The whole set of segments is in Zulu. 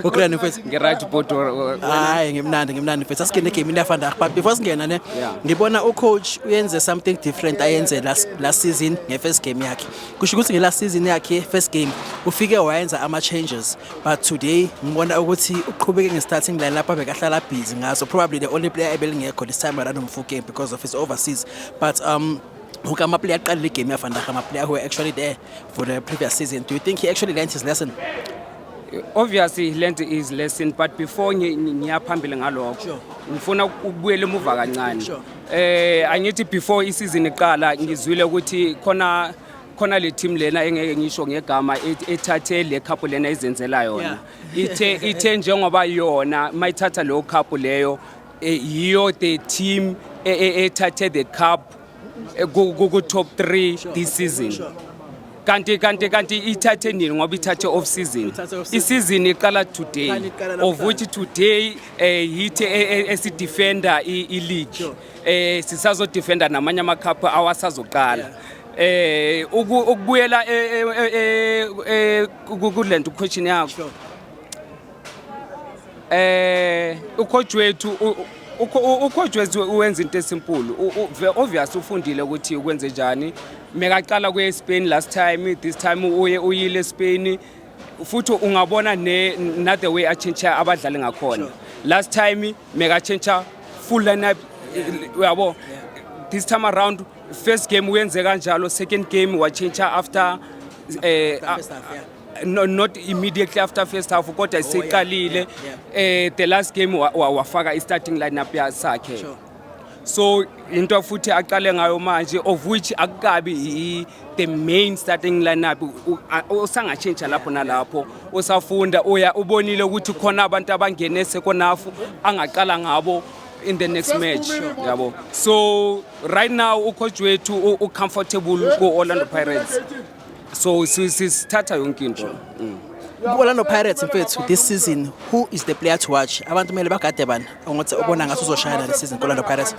ugrand mfethu ngeright bot hayi ngimnandi ngimnandi mfethu asingene game into yafanda but before singena ne ngibona ucoach uyenze something different ayenze last last season ngefirst game yakhe kusho ukuthi ngelast season yakhe first game ufike wayenza ama changes but today ngibona ukuthi uqhubeke ngestarting line lapha bekahlala busy ngaso probably the only player ebelingekho this time around umfukeni because of his overseas but um Okay, my player can league game Van Dijk, my player who were actually there for the previous season. Do you think he actually learned his lesson? Obviously he learned his lesson but before ngi- ngi- ngiya phambili ngalokho Sure. ngifuna ukubuyela emuva kancane. Sure. Eh angithi before isizini iqala ngizwile ukuthi khona khona le team lena engeke ngisho ngegama et- ethathe le cup lena izenzela yona. Ithe ithe njengoba yona mayithatha leyo cup leyo Eh, yiyo the team e- e- ethathe the cup eh, ku- ku- ku-top 3 this season kanti kanti kanti ithathe nini ngoba ithathe off season Ithathe off season. isizini iqala today Kanti iqala of namhlanje. which today um yithi e- e- esidefenda i- i-league Sure. um sisazodefenda namanye amakhaphu awasazoqala um ukubuyela eh, eh, eh, eh, ku- ku- kule nto question yakho Sure. eh ucoach wethu ucoach wethu wenza into esimpulu obvious ufundile ukuthi ukwenze njani mekaqala kuye eSpain last time this time uye uyile eSpain futhi ungabona ne not the way a change abadlali ngakhona last time meka change full lineup uyabo this time around first game uyenze kanjalo second game wa change after eh no, not immediately after first half kodwa siqalile oh, yeah, yeah. eh the last game wafaka wa, wa wafaka i starting lineup yakhe sure. so into futhi aqale ngayo manje of which akukabi the main starting lineup usangatshintsha lapho nalapho usafunda uya ubonile ukuthi khona abantu abangene sekonafu angaqala ngabo in the next match yabo so right now ucoach wethu ucomfortable ku-orlando pirates so sithatha yonke into mm. Orlando Pirates mfethu this season who is the player to watch abantu kumele bagade bani ongothi ubona ngathi uzoshayana this season Orlando Pirates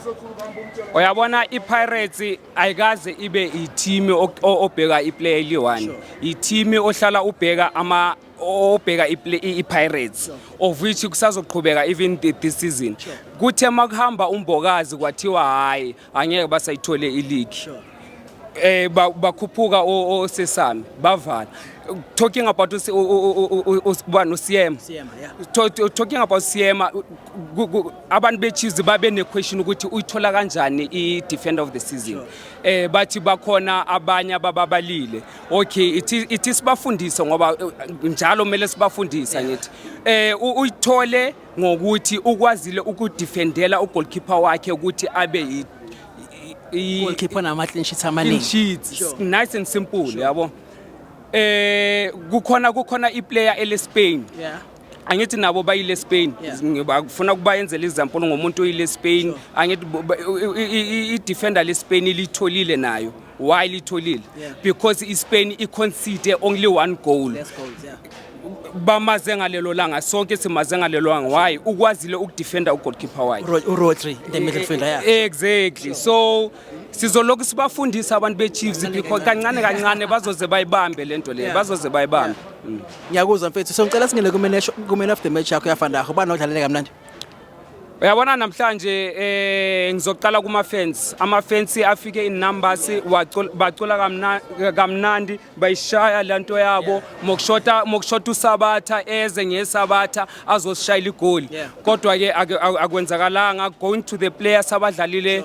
uyabona i-pirates ayikaze ibe ithimi obheka iplayer eliyi-one ithimi ohlala ubheka ama obheka i-pirates of which kusazoqhubeka even this season kuthe uma kuhamba umbokazi kwathiwa hhayi angeke basayithole iligi eh bakhuphuka osesami bavala talking about ubani usiyema talking about siyema abantu bechiefs babe nequestion ukuthi uyithola kanjani i-defender of the season eh bathi bakhona abanye abababalile okay ithi sibafundise ngoba eh, njalo kumele sibafundisa ngithi eh uyithole ngokuthi ukwazile ukudefendela ugoalkeeper wakhe ukuthi abe yi goalkeeper nama clean sheets amaningi sheets sure. nice and simple sure. yabo eh kukhona kukhona iplayer ele Spain yeah angithi nabo bayile Spain ngibafuna yeah. kubayenzela example ngomuntu oyile Spain sure. angithi i defender le Spain ilitholile nayo why litholile yeah. because ispain iconcede only one goal Less goals, yeah. bamaze ngalelo langa sonke simaze ngalelo langa why ukwazile ukudefenda ugoalkeeper wakhe urodri the middle fielder yeah. E-, exactly so sizolokhu sibafundisa abantu bechiefs because kancane kancane bazoze bayibambe le nto leyo bazoze bayibambe mm. ngiyakuzwa mfethu so ngicela singene kumen of the match yakho yafandaho ubani odlalele kamnandi Uyabona namhlanje eh ngizoqala kuma fans. Ama fans afike in numbers bacula kamnandi bayishaya lento yabo mokushota mokushota usabatha eze ngesabatha azosishayila igoli. Kodwa ke akwenzakalanga going to the players abadlalile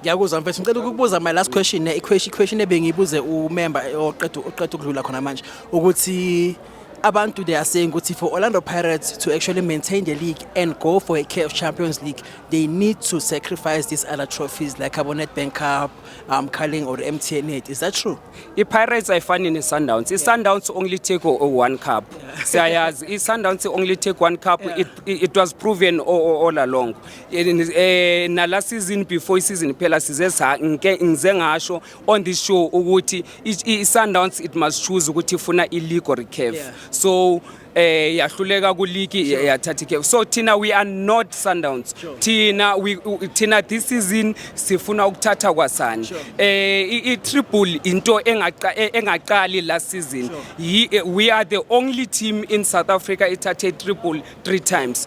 Ngiyakuzwa mfethu ngicela ukukubuza my last question ne question question ebengibuze umember oqeda oqeda ukudlula khona manje ukuthi abantu they are saying ukuthi for Orlando Pirates to actually maintain the league and go for a CAF Champions League they need to sacrifice these other trophies like abo Nedbank Cup um Carling or MTN 8 is that true iPirates ayifani neSundowns iSundowns only take one cup siyayazi iSundowns only take one cup it, it was proven all, all along eh nala season before season phela size ngike ngize ngasho on this show ukuthi iSundowns it must choose ukuthi ifuna ileague or iCAF yeah. so eh yahluleka kuligi sure. yathatha iCAF so thina we are not Sundowns sure. thina we thina this season sifuna ukuthatha kwasani sure. eh i triple into engaqa e, engaqali last season sure. Eh, we are the only team in South Africa ithathe triple three times